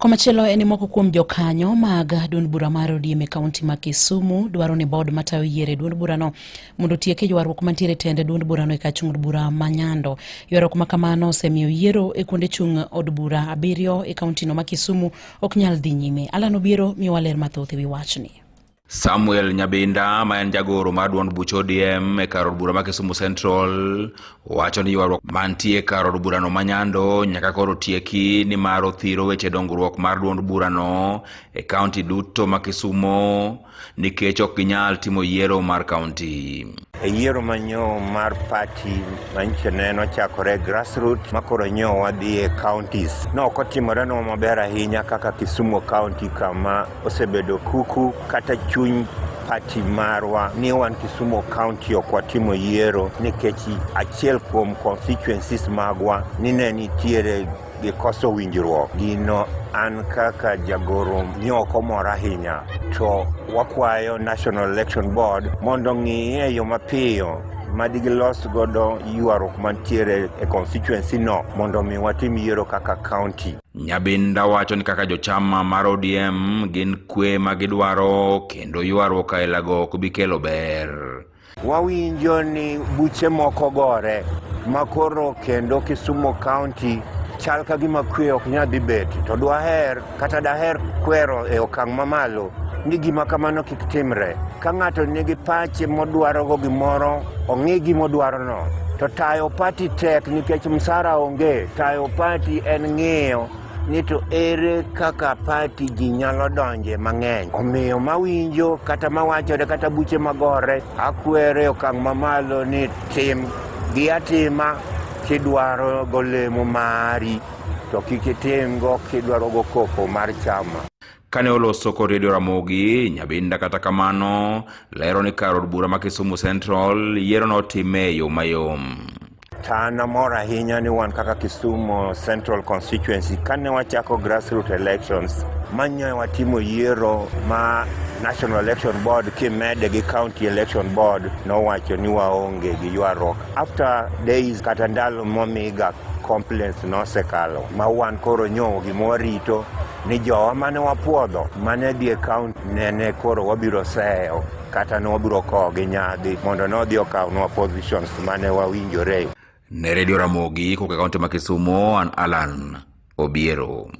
Komachielo en ni moko kuom jokanyo mag duond bura mar ODM e kaunti ma Kisumu dwaro ni bod matayo yiero e duond burano mondo otiek e ywaruok mantiere e tend duond burano e kach od bura ma Nyando. Ywaruok ma kamano osemiyo yiero e kuonde chung' od bura abiriyo e kauntino ma Kisumu ok nyal dhi nyime. Alan Obiero miyowa ler mathoth e wi wachni. Samuel Nyabinda ma en jagoro mar duond buch ODM e kar od bura ma Kisumu Central wacho ni ywaruok mantie kar od burano ma Nyando nyaka koro tieki ni mar othiro weche dongruok mar duond burano e kaunti duto ma Kisumo nikech ok ginyal timo yiero mar kaunti. E yiero manyo mar pati manyicho ne nochakore grassroots ma koro nyo wadhi e counties. Nok otimore nwa maber ahinya kaka Kisumu County kama Osebedo kuku kata chuny pati marwa ni wan Kisumu County ok watimo yiero nikech achiel kuom constituencies magwa ni ne nitiere gi koso winjruok gino an kaka jagoro ni ok omor ahinya to wakwayo National Election Board mondo ng'iye e yo mapiyo madi gilos godo ywaruok mantiere e constituency no mondo mi watim yiero kaka county Nyabinda wacho ni kaka jochama mar ODM gin kwe ma gidwaro kendo ywaruok ailago ok bi kelo ber. Wawinjo ni buche moko gore ma koro kendo Kisumu County chal ka gima kwe ok nyal dhi bet to dwaher kata daher kwero e okang' mamalo ni gima kamano kik timre. Ka ng'ato nigi pache modwarogo gimoro Ong'i gima odwarono. To tayo pati tek nikech msara onge. Tayo pati en ng'iyo ni to ere kaka pati ji nyalo donje mang'eny. Omiyo mawinjo kata mawachore kata buche magore, akwere okang' mamalo ni tim gi atima kidwaro golemo mari to kik itimgo kidwaro go koko mar chama. kane oloso kod redio ramogi nyabinda kata kamano lero ni kar od bura ma kisumu central yiero notime e yo mayom an amor ahinya ni wan kaka kisumu central constituency kane wachako grassroot elections manyoe watimo yiero ma national election board kimede gi county election board nowacho ni waonge gi ywaruok after days kata ndalo momiga complaints nosekalo ma wan koro nyo gima warito ni jowa mane wapwodho mane dhi e kaunti nene koro wabiro seyo kata ne wabiro kowo gi nyadhi mondo nodhi okawnwa positions mane wawinjore. Ne redio Ramogi koka kaunti ma Kisumo, an Alan Obiero.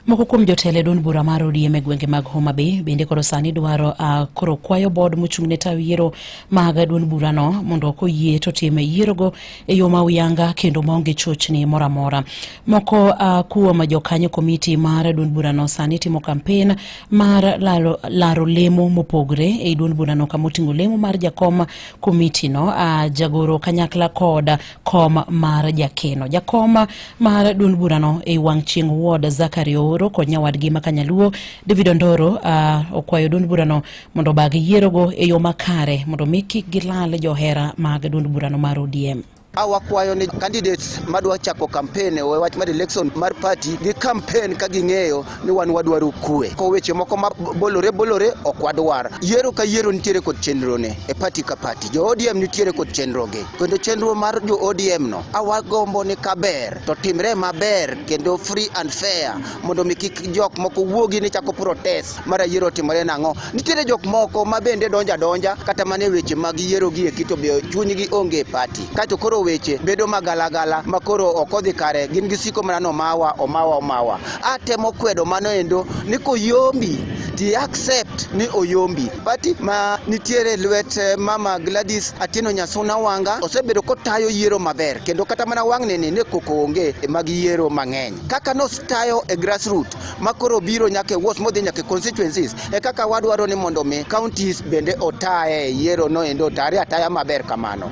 Moko kuom jotelo e duond bura mar ODM e gwenge mag Homa Bay bende koro sani dwaro uh, koro kwayo bod mochung' ne taw yiero mag duond burano mondo koyie to time yierogo e yo ma uyanga kendo maonge chochni moro amora. Moko uh, kuom jokanyo komiti mar duond burano sani timo kampen mar laro, laro lemo mopogre e duond burano kama oting'o lemo mar jakom komitino uh, ah, jagoro kanyakla kod kom mar jakeno. Jakom mar duond burano e wang' chieng' ward Zakari Ooro kod nyawadgi ma Kanyaluo David Ondoro uh, okwayo duond burano mondo obag yierogo e yo makare mondo mi kik gilal johera mag duond burano mar ODM. Awakwayo ni candidates madwa chako campaign e wach mar election mar party gi campaign ka ging'eyo ni wan wadwaro kue. Ko weche moko ma bolore bolore ok wadwar. Yiero ka yiero nitiere kod chenro ne e party ka party. Jo ODM nitiere kod chenro gi. Kendo chenro mar jo ODM no awagombo ni kaber to timre maber kendo free and fair mondo mi kik jok moko wuogi ni chako protest. Mara yiero timore nang'o? Nitiere jok moko ma bende donjo adonja kata mana e weche mag yiero gi eki to be chunygi onge e pati. Kaeto koro weche bedo magalagala ma koro ok odhi kare gin gisiko mana ni omawa omawa omawa. Atemo kwedo mano endo ni koyombi ti accept ni oyombi. Pati ma nitiere e lwet eh, mama Gladys Atieno Nyasuna Wanga osebedo kotayo yiero maber kendo kata mana wang'ni ni ne koko onge mag yiero mang'eny. Kaka nostayo e grassroot ma koro biro nyaka e wards modhi nyaka e constituencies e kaka wadwaro ni mondo mi counties bende otaye yiero no endo otare ataya maber kamano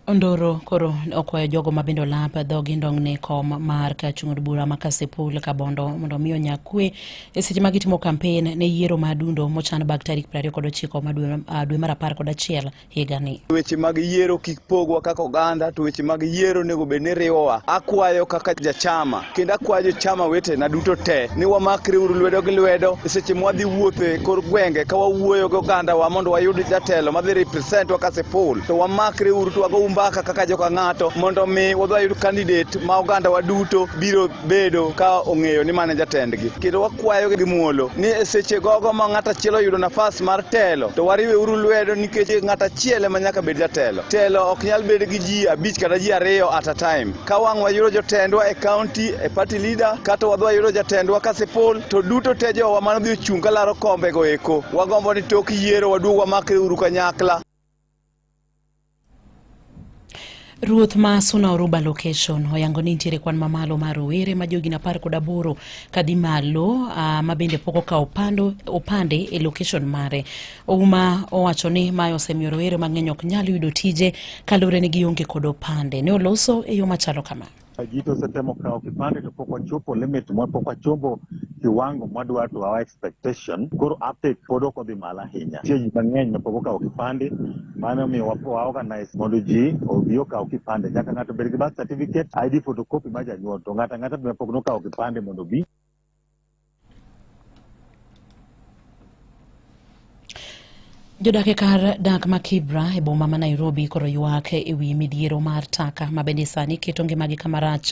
Ondoro koro okwayo jogo ma bende olap dhogi ndong' ne kom mar ka chung' od bura ma Kasipul Kabondo mondo omi onya kwe e seche ma gitimo kampen ne yiero ma adundo mochan bag tarik 29 ma dwe, uh, dwe mar apar kod achiel higani. Weche mag yiero kik pogwa kaka oganda, to weche mag yiero onego bed ni riwowa. Akwayo kaka jachama kendo akwayo jochama wetena duto te ni wamakre uru lwedo gi lwedo e seche ma wadhi wuotho e kor gwenge ka wawuoyo gi ogandawa mondo wayud jatelo madhi representwa ka siful, to wamakre uru to wago umbaka kaka joka ng'ato mondo mi wadhi wayud candidate ma ogandawa duto biro bedo ka ong'eyo ni mane jatendgi kendo wakwayo gi muolo ni e seche gogo ma ng'at achiel oyudo nafas mar telo to wariwe uru lwedo nikech ng'at achiel ema nyaka bed jatelo telo ok nyal bed gi ji abich kata ji ariyo at a time ka wang' wayudo jotendwa e county e party leader kata wadhi wayudo jatendwa ka sipol to duto te jowa mano dhi ochung' ka laro kombego eko wagombo ni tok yiero waduog wamakre uru kanyakla Ruoth ma Suna Oruba location oyango ni nitiere kwan mamalo mar rowere ma jogin apar kod aboro kadhi malo uh, ma bende pok okawo opande e location mare. Ouma owacho ni mae osemiyo rowere mang'eny ok nyal yudo tije kaluwore ni gionge kod opande. Ne oloso e yo machalo kama. Jito osetemo kawo kipande to pok wachopo limit mwa pok wachopo kiwango mwadwa to our expectation koro uptake pod ok odhi malo ahinya. Nitie ji mang'eny ma pok okawo kipande mano omiyo wa- wa organize mondo ji obi okaw kipande. Nyaka ng'ato bed gi birth certificate, ID photocopy mar janyuol to ng'ato ang'ata be pok nokawo kipande mondo obi Jodak e kar dak ma Kibra e boma ma Nairobi koro ywak e wi midhiero mar taka ma bende sani keto ngimagi kama rach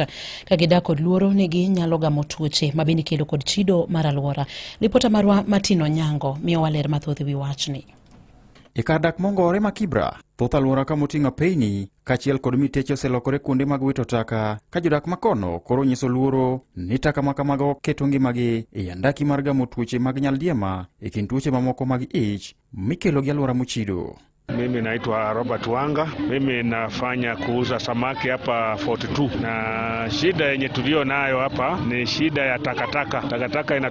ka gidak kod luoro ni ginyalo gamo tuoche ma bende ikelo kod chido mar alwora. Ripota marwa Martin Onyango miyowa ler mathoth e wi wachni. E kar dak mongore ma Kibra, thoth alwora ka moting'o apeyini kaachiel kod miteche oselokore kuonde mag wito taka ka jodak ma kono koro nyiso luoro ni taka ma kamago keto ngimagi e andaki mar gamo tuoche mag nyaldiema e kind tuoche mamoko mag ich mikelo gi alwora mochido. Mimi naitwa Robert Wanga, mimi nafanya kuuza samaki hapa 42 na shida yenye tulio nayo hapa ni shida ya takataka. Takataka ina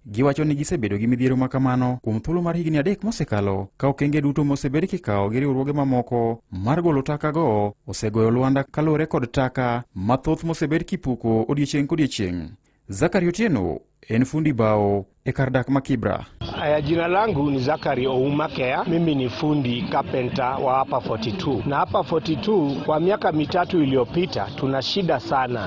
Giwacho ni gisebedo gi midhiero ma kamano kuom thuolo mar higni adek mosekalo ka okenge duto mosebed kikawo gi riwruoge mamoko mar golo takago osegoyo lwanda kaluwore kod taka mathoth mosebed kipuko odiechieng' kodiechieng'. Zakari Otieno en fundi bao e kar dak ma Kibra. Aya, jina langu ni Zakari Ouma Kea. Mimi ni fundi kapenta wa hapa 42 na hapa 42 kwa miaka mitatu iliyopita tuna shida sana.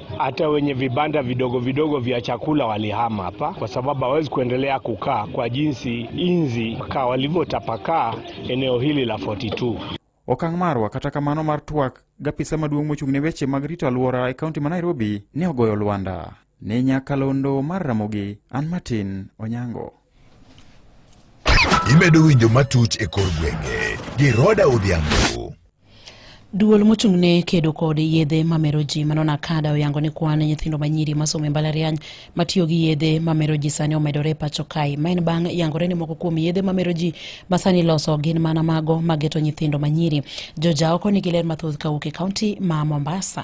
Hata wenye vibanda vidogo vidogo vya chakula walihama hapa, kwa sababu hawezi kuendelea kukaa kwa jinsi inzi kaa walivyotapakaa eneo hili la 42. Okang' marwa kata kamano mar twak gapisa maduong' mochung' ne weche mag rito alwora e kaunti ma Nairobi ne ogoyo lwanda. Ne nyakalondo mar Ramogi, an Martin Onyango. Imedo winjo matuch e kor gwenge gi Roda Odhiambo. Duol mochung' ne kedo kod yedhe mamero ji mano Nakada oyango ni kwan nyithindo manyiri masomo e mbalariany matiyo gi yedhe mamero ji sani omedore e pacho kae. Ma en bang' yangore ni moko kuom yedhe mamero ji masani loso gin mana mago mageto nyithindo manyiri. Joja oko nigi ler mathoth kawuok e kaunti ma Mombasa.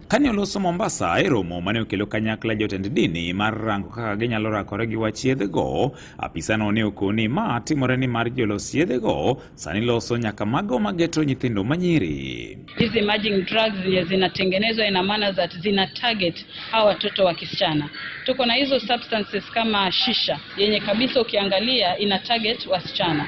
Kane oloso Mombasa e romo mane okelo kanyakla jotend dini mar rango kaka ginyalo rakore gi wach yedhego, apisano ne okoni ma timore ni mar jolos yedhego sani loso nyaka mago mageto nyithindo manyiri. Hizi emerging drugs zenye zinatengenezwa ina maana that zina target hawa watoto wa kisichana. Tuko na hizo substances kama shisha yenye kabisa ukiangalia ina target wasichana.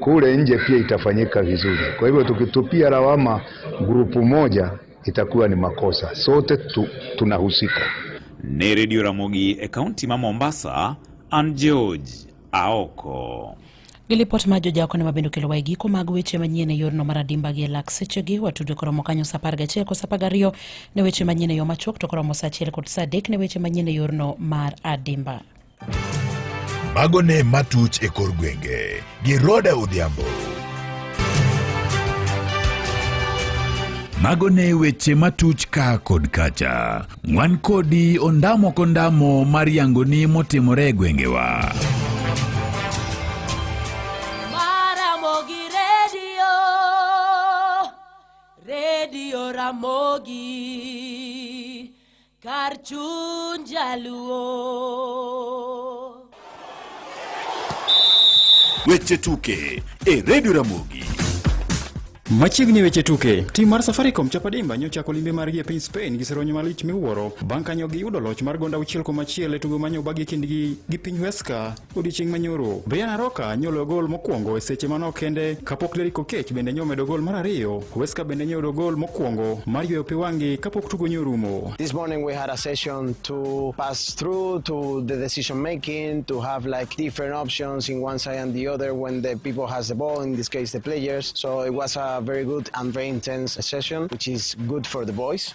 kule nje pia itafanyika vizuri. Kwa hivyo tukitupia lawama grupu moja itakuwa ni makosa, sote tu, tunahusika. Ni Redio Ramogi, e kaunti ma Mombasa. An George Aoko. Gilipot ma jojaoko ne mabende okelo wae giko mag weche manyien e yorno mar adimba gi e lak sechegi watudo koromo kanyo sa apar gachiel kod sa apar gariyo ne weche manyien e yo machuok to koromo sa achiel kod sa adek ne weche manyien e yorno mar adimba. Mago ne matuch e kor gwenge gi Roda Odhiambo. Mago ne weche matuch ka kod kacha. Wan kodi ondamo kondamo mar yangoni motimore e gwengewa. Maramogi redio, redio Ramogi. Kar chuny jaluo. Weche tuke e redio Ramogi. Machiegni e weche tuke, tim mar Safaricom Chapadimba nyocha ochako limbe margi e piny Spain gi seronyo malich miwuoro bang' ka nyogi yudo loch mar gonda auchiel kuom achiel e tugo manyo obagi kindgi gi piny Huesca odiechieng' manyoro brian aroka nyolo gol mokwongo e seche manok kende kapok deriko kech bende nyo medo gol mar ariyo weska bende nyodo gol mokwongo mar yweyo pi wang'gi kapok tugo nyo rumo This morning we had a session to pass through to the decision making, to have like different options in one side and the other when the people has the ball, in this case the players. So it was a very good and very intense session, which is good for the boys.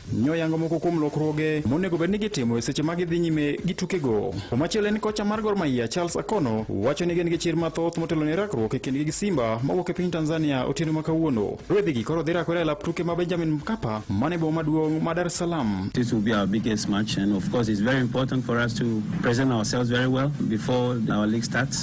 Nyoyango moko kuom lokruoge monego bed ni gitimo e seche ma gidhi nyime gi tukego. Komachielo en kocha mar Gor Mahia Charles Akono wacho ni gin gi chir mathoth motelo ne rakruok e kindgi gi Simba mawuok e piny Tanzania otieno ma kawuono. Rwedhigi koro dhi rakore e lap tuke ma Benjamin Mkapa mane boma maduong' ma Dar es Salaam. This will be our biggest match and of course it's very important for us to present ourselves very well before our league starts.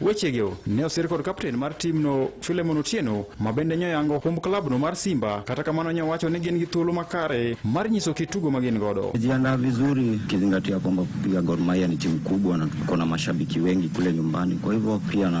Wechego ne osir kod kapten mar timno Filemon Otieno ma bende nyoyango humb klabno mar Simba, kata kamano nyowacho ni gin gi thuolo makare mar nyiso kit tugo ma gin godo. Jiandaa vizuri kizingatia kwamba pia Gor Mahia ni timu kubwa na tuko na mashabiki wengi kule nyumbani, kwa hivyo pia na